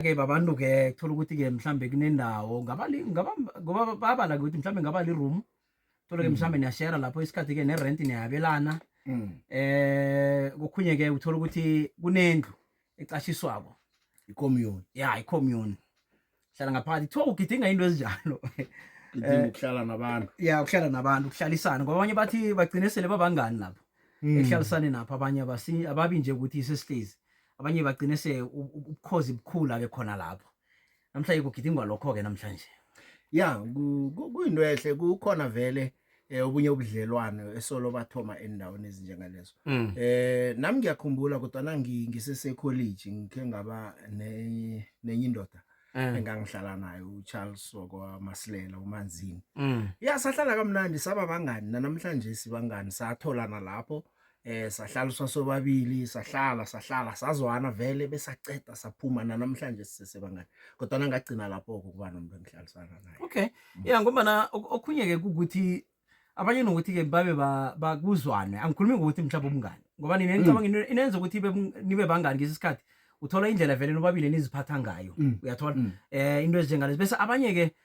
ke babantu ke thola ukuthi ke mhlambe kunendawo ngaba ngaba ngoba babala ukuthi mhlambe ngaba li room thola ke mm. mhlambe niya share lapho isikhathi ke ne rent niyabelana mm. eh kukhunye ke uthola ukuthi kunendlu ecashiswako i commune yeah i commune hlala ngaphakathi kuthiwa ugidinga into ezinjalo kudinga eh, ukuhlala nabantu ya ukuhlala nabantu ukuhlalisana ngoba abanye bathi bagcine sele babangani lapho mm. ekuhlalisane napho abanye ababi nje ukuthi sesihlezi abanye bagcine se ubukhozi bukhula ke khona lapho namhlanje kugidingwa lokho ke namhlanje ya kuyinto ehle kukhona vele eh obunye ubudlelwane esolo bathoma endaweni ezinjengalezo mm. eh nami ngiyakhumbula kodwa nangi ngisese college ngikhe ngaba nenye indoda mm. engangihlala nayo uCharles sokwa Masilela uManzini mm. ya sahlala kamnandi saba bangani namhlanje sibangani satholana lapho eh sahlala sasobabili sahlala sahlala sazwana vele besaceda saphuma namhlanje sisebangani kodwa ngagcina lapho ukuba nomuntu engihlalisana naye okay mm. yeah ngoba na okhunye ke ukuthi abanye nokuthi ke babe bakuzwane angikhulumi ngokuthi mhlawumbe umngani ngoba nina mm. nicabanga into inenza ukuthi nibe bangani ngesi sikhathi uthola indlela vele nobabili niziphatha ngayo mm. uyathola eh into ezinjengalezi bese abanye ke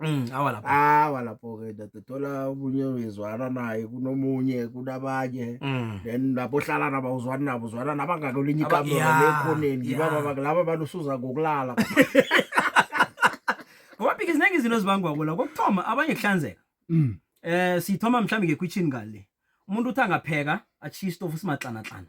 Mm, awa lapho awa lapho ke ndoda thola omunye uyizwana naye kunomunye kunabanye mm. then lapho hlala nabo uzwana nabo uzwana nabangaka olinye ikamera lekhoneni ngibaba yeah. laba abantu usuza ngokulala ngoba phike ziningi izinto ezibangwa kula kokuthoma abanye kuhlanzeka mm. eh sithoma mhlawumbe ngekwitshini ngale umuntu uthi angapheka achiye istofu simaxanaxana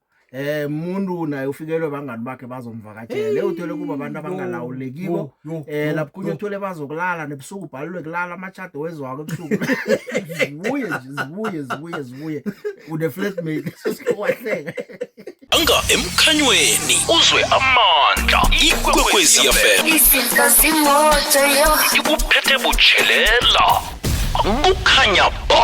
eh umuntu naye ufikelwe bangani bakhe bazomvakatshela hey, uthole kuba abantu abangalawulekiko eh lapho kunye uthole bazokulala nebusuku ubhalelwe kulala amachado wezwako ebusuku zibuye zibuye zibuye zibuye une flatmate sesiwahleka anga emkhanyweni uzwe amandla ikwekwezi yafela isinto simoto yo ikuphethe butshelela kukhanya ba